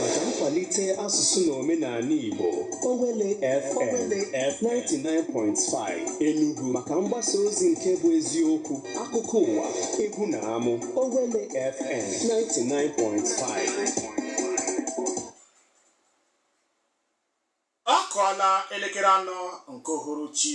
maka nkwalite asụsụ na omenala Igbo Owelle FM 99.5 Enugu maka mgbasa ozi nke bụ eziokwu akụkọ ụwa egwu na amụ Owelle FM 99.5 ọ kụọla elekere anọ nke uhuruchi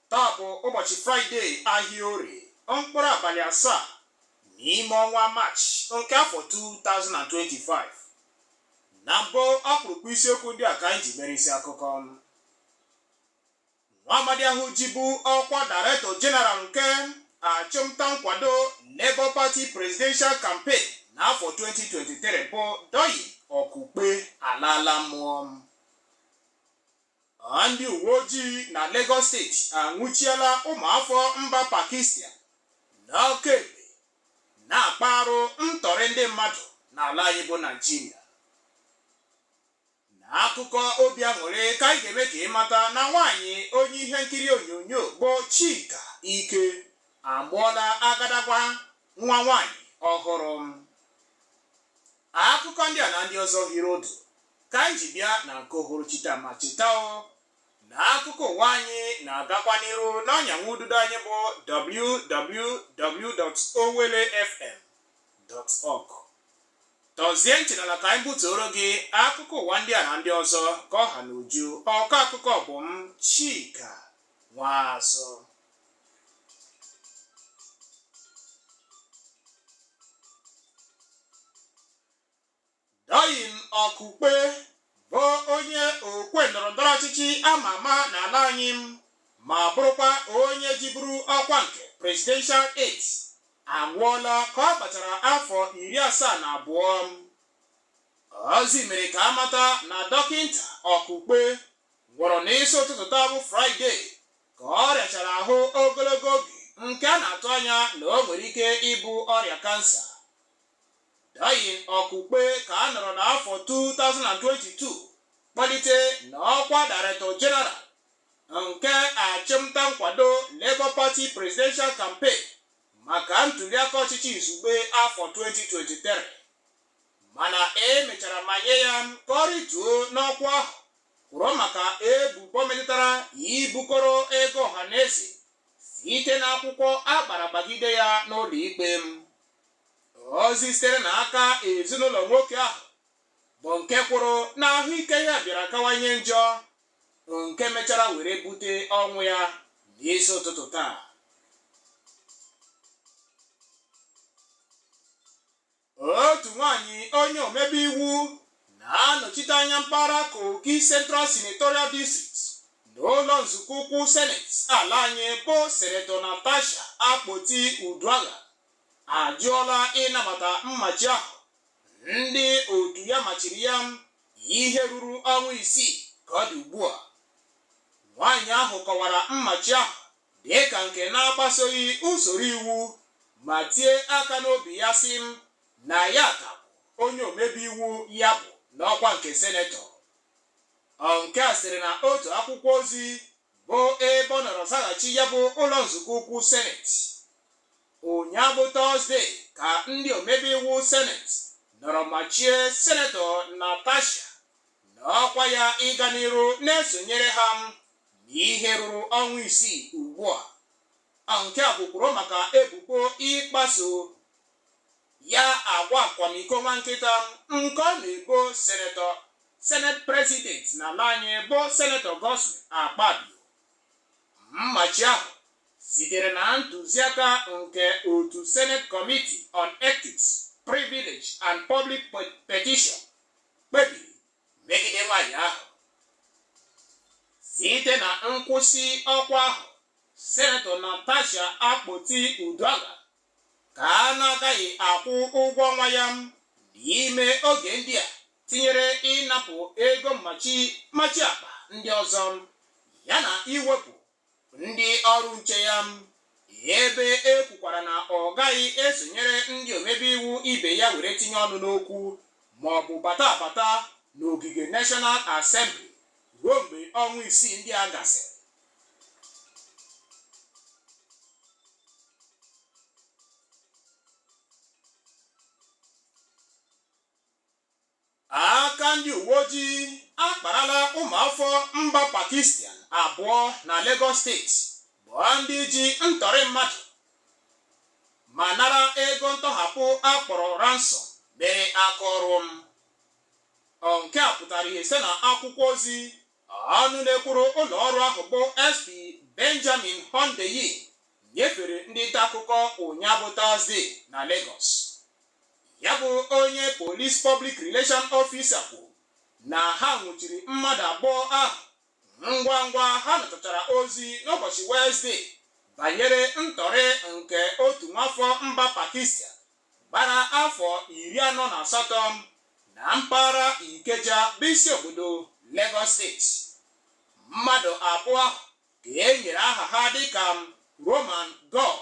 taa bụ ụbọchị fraịde ahịa orie mkpụrụ abalị asaa n'ime ọnwa maachị nke afọ 2025 na mbụ ọkpụrụkpụ isiokwu ndị a ka anyị ji mere isi akụkọ nwa amadi ahụ jibu ọkwa Director General nke achụmnta nkwado Labour Party presidential campaign n'afọ 2023 bụ Doyin Okupe alaala mmụọ Ndị uwe ojii na Lagos steeti anwụchiela ụmụafọ mba Pakistan n'ọka ekpe na-akpa arụ ntọrị ndị mmadụ n'ala anyị bụ Naịjirịa. N'akụkọ obi aṅụrị ka anyị ga-eme ka ị mata na nwaanyị onye ihe nkiri onyonyo bụ Chika Ike amụọla agadagwa nwa nwaanyị ọhụrụ. Akụkọ ndị a na ndị ọzọ hiri odo ka anyị ji bịa na nke uhuruchi taa ma cheta o na akụkọ ụwa anyị na-agakwa n'iru n'ọnyanwụ ududo anyị bụ www.owellefm.org tọzie ntị n'ala ka anyị butuoro gị akụkọ ụwa ndị a na ndị ọzọ ka ọ ha n'uju ọkọ akụkọ bụ m Chika Nwazụ Doyin Okupe bụ onye okwe ndọrọndọrọ ọchịchị ama ama n'ala anyị ma bụrụkwa onye jiburu ọkwa nke presidential aide anwụọla ka ọ gbachara afọ iri asaa na abụọ ozi mere ka a mata na dọkịnta Okupe nwụrụ n'isi ụtụtụ taa bụ fraịde ka ọ rịachara ahụ ogologo oge nke a na-atụ anya na o nwere ike ịbụ ọrịa kansa Doyin Okupe ka a nọrọ n'afọ 2022 kpalite n'ọkwa Director General nke achụmnta nkwado Labour Party Presidential Campaign maka ntuliaka ọchịchị izugbe afọ 2023 mana e mechara manye ya ka ọ rịtuo n'ọkwa ahụ kwụrụ maka ebubo metụtara ibukọrọ ego ọhaneze site n'akwụkwọ a gbara gbagide ya n'ụlọikpe ozi sitere na aka ezinụlọ nwoke ahụ bụ nke kwuru na ahụike ya bịara kawanye njọ nke mechara were bute ọnwụ ya n'isi ụtụtụ taa otu nwanyị onye omebe iwu na-anọchite anya mpaghara Kogi Central Senatorial District n'ụlọ nzukọ ukwu seneti ala anyị bụ Senator Natasha Akpoti Uduaghan ajụọla ịnabata mmachi ahụ ndị otu ya machiri ya ihe ruru ọnwa isii ka ọ dị ugbu a nwaanyị ahụ kọwara mmachi ahụ dị ka nke na-agbasoghị usoro iwu ma tie aka n'obi ya sị na ya ka bụ onye omebe iwu ya bụ n'ọkwa nke senetọ nke a siri na otu akwụkwọ ozi bụ ebe ọ nọrọ zaghachi ya bụ ụlọ nzukọ ukwu seneti ụnyaahụ bụ Tọzdee ka ndị omebe iwu seneti nọrọ machie senetọ natasha na ọkwa ya ịga n'iru na-esonyere ha m n'ihe ruru ọnwa isii ugbu a nke a bụkwuru maka ebubo ịkpaso ya agwa akwamiko nwa nkịta nke ọ na-ebo senetọ senate president na ala anyị bụ senetọ Godswill Akpabio Mmachi ahụ sitere na ntụziaka nke otu Senate Committee on Ethics, Privilege and Public Pe- Petition kpebiri megide nwanyị ahụ. Site na nkwụsị ọkwa ahụ, Senetọ Natasha Akpoti Uduaghan ka a na-agaghị akwụ ụgwọ ọnwa ya n'ime oge ndị a tinyere ịnapụ ego mmachi mmachi akpa ndị ọzọ yana iwepụ ndị ọrụ nche ya ebe e kwukwara na ọ gaghị esonyere ndị omebe iwu ibe ya were tinye ọnụ n'okwu ma ọ bụ bata abata n'ogige National Assembly ruo mgbe ọnwa isii ndị a gasịrị aka ndị uwe ojii akparala ụmụafọ mba Pakistan abụọ na Lagos steeti bụ ndị ji ntọrị mmadụ ma nara ego ntọhapụ a kpọrọ ransom mere aka ọrụ nke a pụtara ihe site na akwụkwọ ozi ọnụ na-ekwuru ụlọ ọrụ ahụ bụ SP Benjamin Hundeyin nyefere ndị nta akụkọ ụnyaa bụ Tọzdee na Lagos ya bụ onye Police Public Relation Officer kwuru na ha nwụchiri mmadụ abụọ ahụ ngwa ngwa ha natachara ozi n'ụbọchị Wezdee banyere ntọrị nke otu nwafọ mba Pakistan gbara afọ iri anọ na asatọ na mpaghara Ikeja bụ isi obodo Lagos steeti. Mmadụ abụọ ahụ ka e nyere aha ha dịka Roman Gull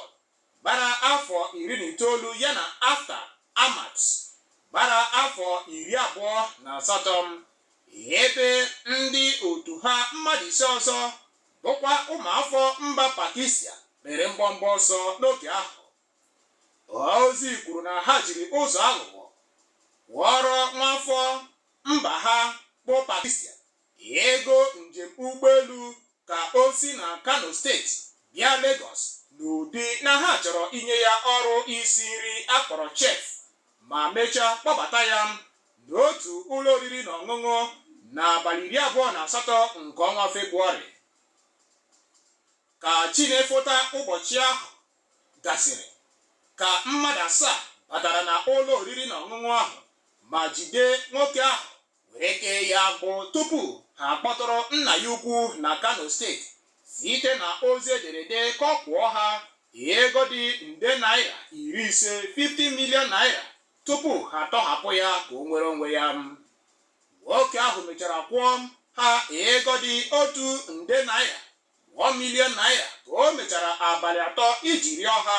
gbara afọ iri na itoolu ya na Aftab Ahmad gbara afọ iri abụọ na asatọ ebe ndị otu ha mmadụ ise ọzọ bụkwa ụmụafọ mba Pakistan mere mgbọmgbọ ọsọ n'oge ahụ ozi kwuru na ha jiri ụzọ aghụghọ kwụọrọ nwafọ mba ha bụ Pakistan ego njem ụgbọelu ka o si na Kano steeti bịa Lagos n'ụdị na ha chọrọ inye ya ọrụ isi nri a kpọrọ chef ma mechaa kpọbata ya n'otu ụlọ oriri na ọṅụṅụ n'abalị iri abụọ na asatọ nke ọnwa Febụwarị ka chi na-efota ụbọchị ahụ gasịrị ka mmadụ asaa batara na ụlọ oriri na ọṅụṅụ ahụ ma jide nwoke ahụ were kee ya agbụ tupu ha akpọtụrụ nna ya ukwu na Kano steeti site na ozi ederede ka ọ kwụọ ha ego dị nde naira iri ise 50 million naira tupu ha atọhapụ ya ka o nwere onwe ya nwoke ahụ mechara kwụọ ha ego dị otu nde naira 1 million naira ka o mechara abalị atọ iji rịọ ha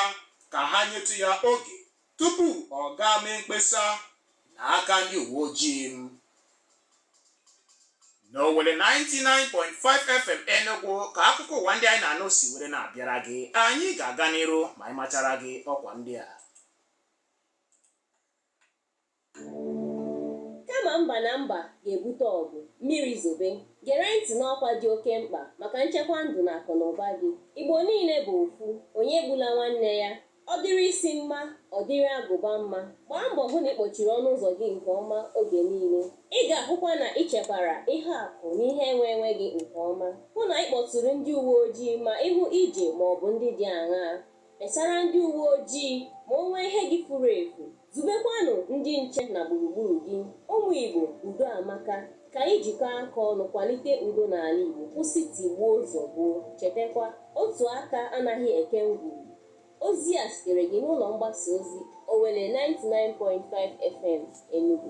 ka ha nyetụ ya oge tupu ọ gaa mee mkpesa n'aka ndị uwe ojii. N'Owelle 99.5 FM Enugu ka akụkọ ụwa ndị anyị na-anụ si were na-abịara gị anyị ga-aga n'iru ma anyị machara gị ọkwa ndị a Kama mba na mba ga-ebute ọgụ, mmiri zobe, gere ntị n'ọkwa dị oke mkpa maka nchekwa ndụ na akụnaụba gị. Igbo niile bụ ofu, onye egbula nwanne ya. Ọ dịrị isi mma, ọ dịrị agụba mma. Gbaa mbọ hụ na ị kpọchiri ọnụ ụzọ gị nke ọma oge niile. Ị ga-ahụkwa na ị chekwara ihe akụ na ihe enwe enwe gị nke ọma. Hụ na ị kpọtụrụ ndị uwe ojii ma ị hụ ije ma ọ bụ ndị dị aṅaa. Kpesara ndị uwe ojii ma o nwee ihe gị furu efu. Zubekwanụ ndị nche na gburugburu gị. Ụmụ Igbo, udo amaka. Ka anyị jikọọ aka ọnụ kwalite udo n'ala Igbo, kwụsị tigbuo zọgbuo. Chetakwa, otu aka anaghị eke ngwugwu. Ozi a sitere gị n'ụlọ mgbasa ozi Owelle 99.5 FM Enugu.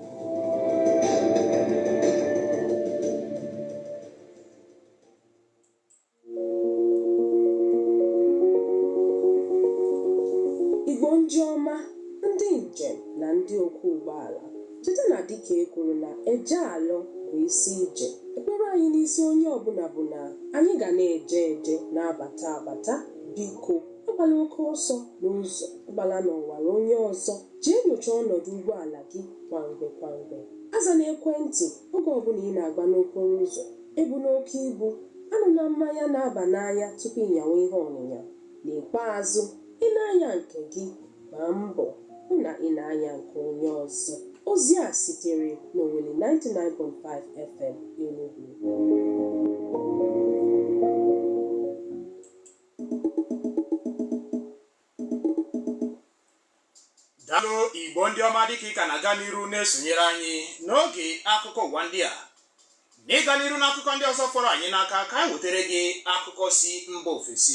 Igbo ndị ọma, ndị njem na ndị ọkwọ ụgbọala, cheta na dịka e kwuru na eje alọ bụ isi ije. Ekpere anyị n'isi onye ọbụla bụ na anyị ga na-eje eje na-abata abata. Biko, agbala oke ọsọ n'ụzọ, agbala n'ọwara onye ọzọ. Jee nyochaa ọnọdụ ụgbọala gị kwa mgbe kwa mgbe. Azana ekwentị oge ọbụla ị na-agba n'okporo ụzọ. Ebuna oke ibu, anụla mmanya na-aba n'anya tupu ị nyawa ihe ọnyịnya. N'ikpeazụ, ị na-anya nke gị, gbaa mbọ hụ na ị na-anya nke onye ọzọ. Ozi a sitere n'Owelle 99.5 FM, Enugwu. daalụ igbo ndị ọma dịka ị ka na-aga n'iru na-esonyere anyị n'oge akụkọ ụwa ndị a n'ịga n'iru n'akụkọ ndị ọzọ fọrọ anyị n'aka ka anyị wetara gị akụkọ si mba ofesi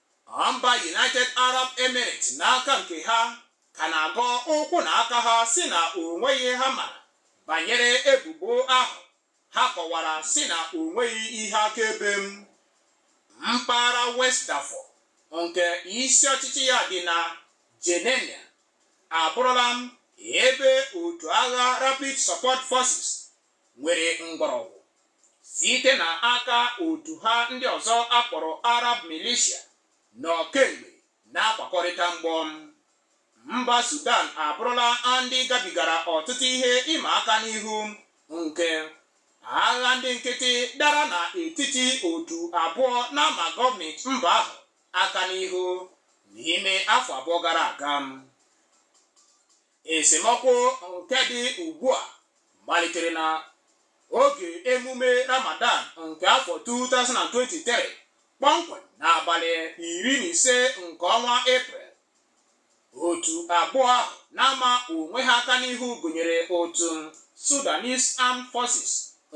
Mba United Arab Emirates n'aka nke ha ka na-agọ ụkwụ na aka ha sị na o nweghị ha mara banyere ebubo ahụ ha kọwara sị na o nweghị ihe akaebe m mpaghara West Darfur nke isi ọchịchị ya dị na Geneina abụrụla m ebe otu agha Rapid Support Forces nwere mgbọrọgwụ site na aka otu ha ndị ọzọ a kpọrọ Arab Militia nọ kemgbe na-akwakọrịta mgbọ mba Sudan abụrụla ndị gabigara ọtụtụ ihe ịma aka n'ihu nke agha ndị nkịtị dara na etiti otu abụọ na-ama gọọmenti mba ahụ aka n'ihu n'ime afọ abụọ gara aga Esemokwu nke dị ugbu a malitere na oge emume Ramadan nke afọ 2023 kpọmkwem n'abalị iri na ise nke ọnwa Eprel. Otu abụọ ahụ na-ama onwe ha aka n'ihu gụnyere otu Sudanese Armed Forces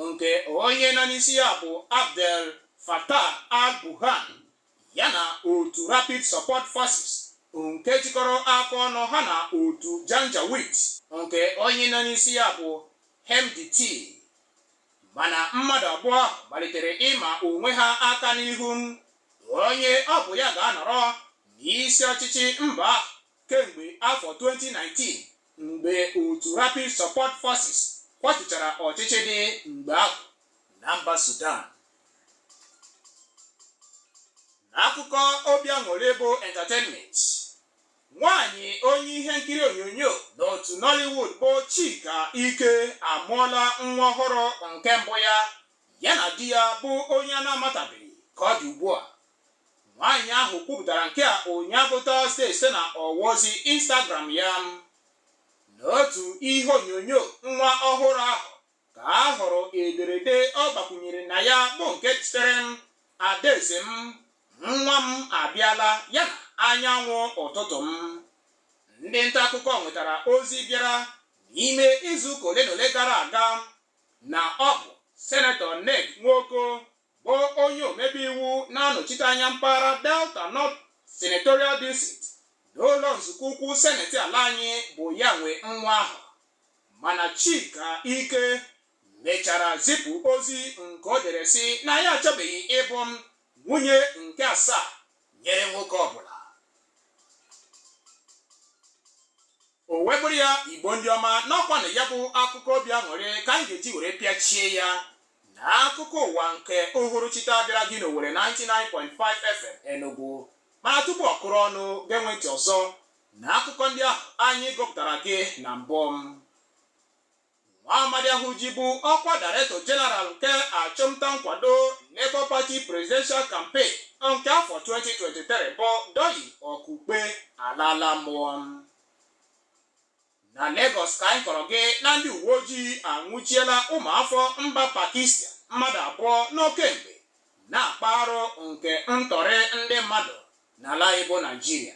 nke onye nọ n'isi ya bụ Abdel Fattah al-Burhan ya na otu Rapid Support Forces nke jikọrọ aka ọnụ ha na otu Janjaweed nke onye nọ n'isi ya bụ Hemedti mana mmadụ abụọ ahụ malitere ịma onwe ha aka n'ihu onye ọ bụ ya ga-anọrọ n'isi ọchịchị mba ahụ kemgbe afọ 2019 mgbe otu Rapid Support Forces kwatuchara ọchịchị dị mgbe ahụ na mba Sudan n'akụkọ obi aṅụrị bụ entertainment nwaanyị onye ihe nkiri onyonyo n'otu Nollywood bụ Chika Ike amụọla nwa ọhụrụ nke mbụ ya ya na di ya bụ onye a na-amatabeghị ka ọ dị ugbu a nwaanyị ahụ kwupụtara nke a ụnyaahụ tọzde site na ọwa ozi Instagram ya n'otu ihe onyonyo nwa ọhụrụ ahụ ka a hụrụ ederede ọ gbakwunyere na ya bụ nke sitere m adaeze m nwa m abịala ya na anyanwụ ụtụtụ m ndị nta akụkọ nwetara ozi bịara n'ime izu ụka ole na ole gara aga na ọ bụ senetọ ned nwoko bụ onye omebe iwu na-anọchite anya mpaghara delta north senatorial district n'ụlọ nzukọ ukwu seneti ala anyị bụ ya nwe nwa ahụ mana Chika Ike mechara zipụ ozi nke o dere sị na ya achọbeghị ịbụ nwunye nke asaa nyere nwoke ọbụla o wee bụrụ ya igbo ndị ọma na ọ kwanụ ya bụ akụkọ obi aṅụrị ka anyị ga-eji were pịachie ya na akụkọ ụwa nke uhuruchi taa bịara gị n'Owelle 99.5 FM Enugu mana tupu ọ kụrụ ọnụ gee ntị ọzọ na akụkọ ndị ahụ anyị gụpụtara gị na mbụ nwa amadi ahụ jibu ọkwa director general nke achụmnta nkwado Labour Party presidential campaign nke afọ 2023 bụ Doyin Okupe alala mmụọ Na Legọs ka anyị kọrọ gị na ndị uwe ojii anwụchiela ụmụafọ mba Pakistan mmadụ abụọ nọ kemgbe na-akpa arụ nke ntọrị ndị mmadụ n'ala anyị bụ Naijiria.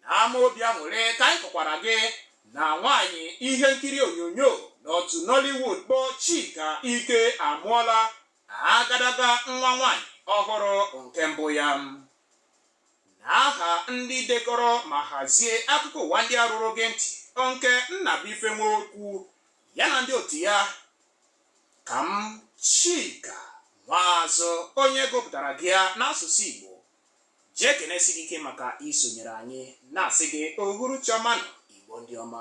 N'ama obi aṅụrị ka anyị kọkwara gị na nwaanyị ihe nkiri onyonyo n'otu Nollywood bụ Chika Ike amụọla agadaga nwa nwaanyị ọhụrụ nke mbụ ya. n'aha ndị dekọrọ ma hazie akụkọ ụwa ndị a ruru gị ntị nke Nnabuife Nwokwu ya na ndị otu ya ka m Chika Nwaazụ onye gụpụtara gị ya n'asụsụ Igbo ji ekenesi gị ike maka isonyere anyị na-asị gị uhuruchi ọma nụ Igbo ndị ọma